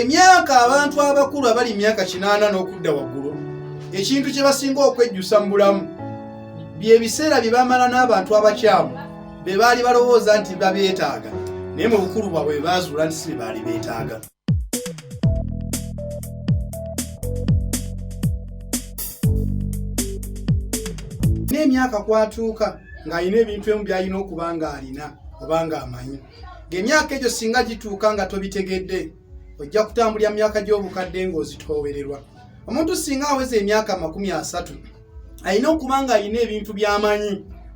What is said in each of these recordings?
emyaka abantu abakulu abali emyaka kinaana n'okudda waggulu ekintu kye basinga okwejjusa mu bulamu byebiseera bye bamala n'abantu abakyamu be baali balowooza nti babeetaaga naye mu bukulu bwabwe baazuula nti si be baali beetaaga n'emyaka kwatuuka ng'alina ebintu emu by'alina okuba ng'alina oba ng'amanyi ng'emyaka egyo singa gituuka nga tobitegedde ojja kutambulira mu myaka gy'obukadde ng'ozitoowererwa omuntu singa aweza emyaka amakumi asatu alina okuba nga alina ebintu byamanyi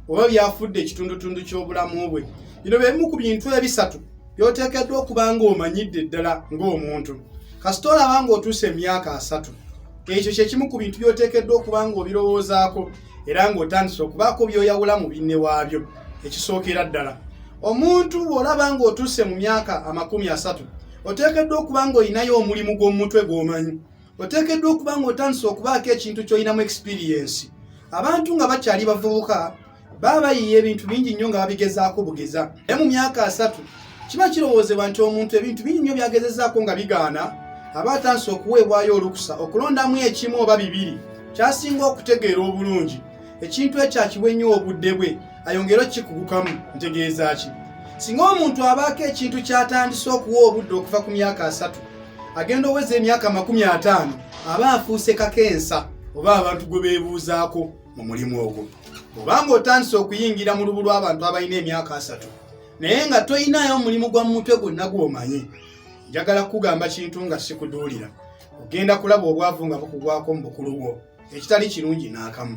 oba byafudde ekitundutundu ky'obulamu bwe bino bebimu ku bintu ebisatu byoteekeddwa okuba nga omanyidde ddala ng'omuntu kasita olaba nga otuusa emyaka asatu ekyo kyekimu ku bintu byoteekeddwa okuba nga obirowoozaako era ng'otandise okubaako byoyawula mu binne waabyo ekisookera ddala omuntu bw'olaba ng'otuuse mu myaka amakumi asatu oteekeddwa okuba ng'olinayo omulimu gw'omumutwe gw'omanyi oteekeddwa okuba ng'otandise okubaako ekintu ky'olinamu ekisipiriyensi abantu nga bakyali bavubuka baba bayiiya ebintu bingi nnyo nga babigezaako bugeza naye mu myaka asatu kiba kirowoozebwa nti omuntu ebintu bingi nnyo byagezezaako nga bigaana aba atandise okuweebwayo olukusa okulondamu ekimu oba bibiri kyasinga okutegeera obulungi ekintu ekyo akiwe nnyo obudde bwe ayongere okukikugukamu ntegeeza ki singa omuntu abaako ekintu kyatandise okuwa obudde okuva ku myaka asatu agenda oweza emyaka amakumi ataano aba afuuse kakensa oba abantu gwe beebuuzaako mu mulimu ogwo obanga otandise okuyingira mu lubu lw'abantu abalina emyaka asatu naye nga toyinaayo omulimu gwa mumutwe gwonna gw'omanyi njagala kukugamba kintu nga sikuduulira ogenda kulaba obwavu nga bukugwako mu bukulu bwo ekitali kirungi n'akamu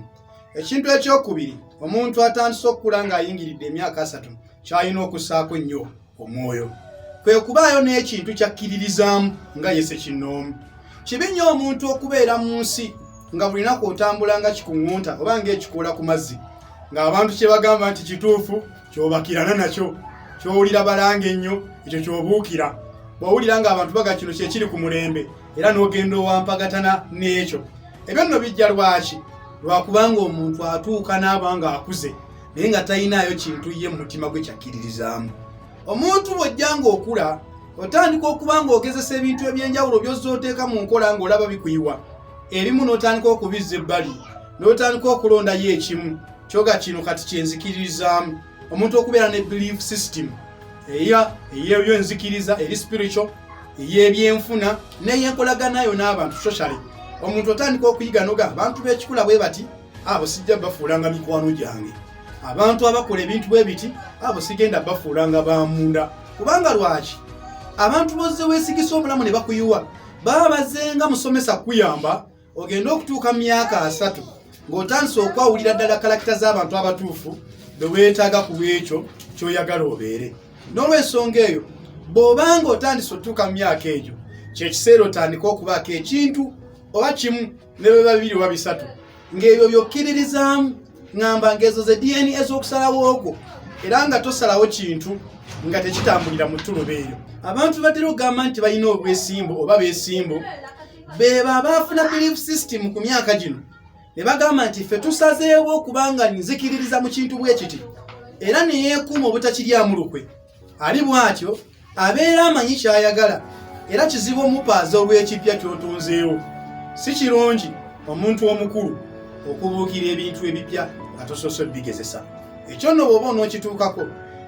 ekintu ekyokubiri omuntu atandise okukula ng'ayingiridde emyaka asatu kyalina okussaako nnyo omwoyo kwe kubaayo n'ekintu kyakkiririzaamu nga yese kinnoomu kibi nnyo omuntu okubeera mu nsi nga buli naku otambula nga kikuŋŋunta oba ng'ekikoola ku mazzi ng'abantu kye bagamba nti kituufu kyobakirana nakyo kyowulira balanga ennyo ekyo kyobuukira bwowulira nga abantu baga kino kyekiri ku mulembe era n'ogenda owampagatana n'ekyo ebyo nno bijja lwaki lwakubanga omuntu atuuka n'aba nga akuze naye nga talinaayo kintu ye mu mutima gwe kyakkiririzaamu omuntu bwojja nga okula otandika okuba nga ogezesa ebintu ebyenjawulo byozza oteeka mu nkola ng'olaba bikuyiwa ebimu n'otandika okubizza ebbali n'otandika okulondayo ekimu kyoga kino kati kyenzikiririzaamu omuntu okubeera ne belief system eya eyebyo enzikiriza eri spiritual eyebyenfuna neyenkolagana yo n'abantu socially omuntu otandika okuyiga noga abantu b'ekikula bwe bati abo sijja bafuulanga mikwano gyange abantu abakola ebintu bwe biti abo sigenda bafuulanga bamunda kubanga lwaki abantu bozze weesigisa obulamu ne bakuyiwa baba bazenga musomesa kuyamba ogenda okutuuka mu myaka asatu ng'otandise okwawulira ddala kalakita z'abantu abatuufu be weetaaga ku ekyo ky'oyagala obeere n'olwensonga eyo bw'oba nga otandise otuuka mu myaka egyo kyekiseera otandika okubaako ekintu oba kimu ne bwe babiri oba bisatu ng'ebyo byokkiririzaamu ŋamba ng'ezo ze dna ez'okusalawo okwo era nga tosalawo kintu nga tekitambulira mu ttuluba eyo abantu batera okugamba nti balina obwesimbu oba besimbu bebo abaafuna belief system ku myaka gino ne bagamba nti ffe tusazeewo okubanga nzikiririza mu kintu bwe kiti era ne yeekuuma obutakiryamu lukwe ali bw'atyo abeera amanyi ky'ayagala era kizibu omupaaza olw'ekipya ky'otunzeewo si kirungi omuntu omukulu okubuukira ebintu ebipya nga tosoose bigezesa ekyo nno bw'oba onookituukako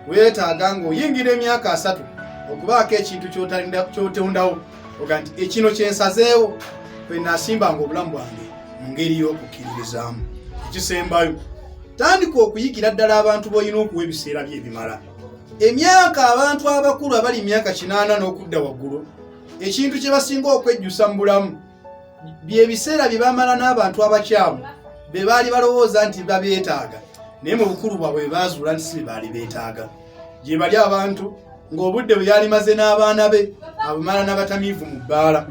weetaaga ng'oyingira emyaka asatu okubaako ekintu kyotondawo oga nti ekino kyensazeewo kwe nasimbanga obulamu bwange mu ngeri y'okukkiririzaamu ekisembayo tandika okuyigira ddala abantu b'olina okuwa ebiseera bye ebimala emyaka abantu abakulu abali emyaka kinaana n'okudda waggulu ekintu kye basinga okwejjusa mu bulamu byebiseera bye bamala n'abantu abakyamu be baali balowooza nti babeetaaga naye mu bukulu bwabwe baazuula nti si be baali beetaaga gye bali abantu ng'obudde bwe yali maze n'abaana be abumala n'abatamiivu mu bbaala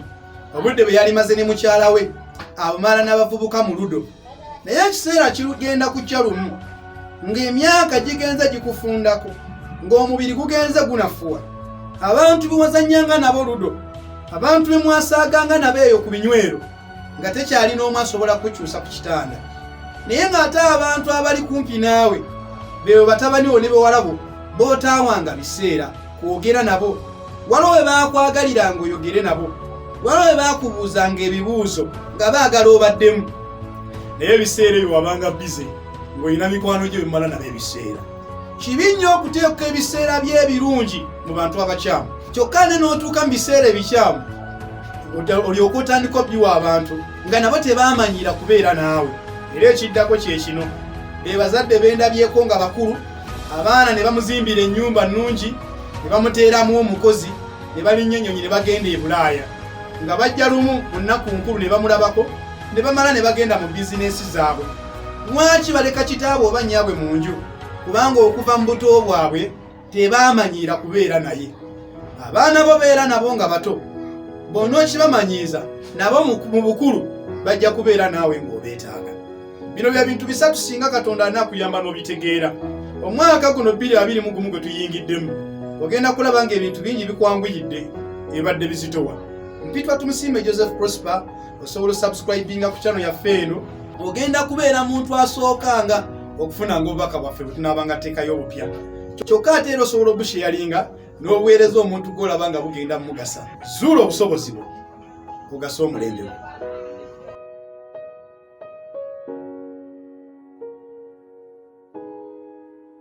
obudde bwe yali maze ne mukyala we abumala n'abavubuka mu ludo naye ekiseera kigenda kujja lumu ng'emyaka gigenze gikufundako ng'omubiri gugenze gunafuwa abantu bewazanyanga nabo ludo abantu bemwasaaganga nabo eyo ku binywero nga tekyali n'omu asobola kukyusa ku kitanda naye ng'ate abantu abali kumpi naawe beebo batabaniwo ne bewalabo bootaawanga biseera kwogera nabo waliwo we baakwagaliranga oyogere nabo waliwo we baakubuuzanga ebibuuzo nga baagala obaddemu naye ebiseera ebyo wabanga bize ng'olina mikwano gyo bimala nabo ebiseera kibi nnyo okuteeka ebiseera by'ebirungi mu bantu abakyamu kyokka ne n'otuuka mu biseera ebikyamu olyoka otandika obiwa abantu nga nabo tebaamanyira kubeera naawe era ekiddako kye kino be bazadde bendabyeko nga bakulu abaana ne bamuzimbira ennyumba nnungi ne bamuteeramu omukozi ne balinnya ennyonyi ne bagenda e bulaaya nga bajja lumu mu nnaku nkulu ne bamulabako ne bamala ne bagenda mu bizinensi zaabwe Lwaki baleka kitaabwe oba nnyabwe mu nju? Kubanga okuva mu buto bwabwe tebaamanyiira kubeera naye. Abaana bo beera nabo nga bato, bw'onookibamanyiiza nabo mu bukulu bajja kubeera naawe ng'obeetaaga. Bino bye bintu bisatu singa Katonda anaakuyamba n'obitegeera. Omwaka guno bbiri abiri mu gumu gwe tuyingiddemu, ogenda kulaba ng'ebintu bingi bikwanguyidde ebadde bizitowa. Mpitwa Tumusiime Joseph Prosper osobola osubscribinga ku channel yaffe eno ogenda kubeera muntu asookanga okufuna nga obubaka bwaffe bwetunaabanga teekayo obupya kyokka ate era osobola obusheyalinga n'obuweereza omuntu gwolaba nga bugenda mumugasa zuula obusobozi bwo ogasa omulembe gwo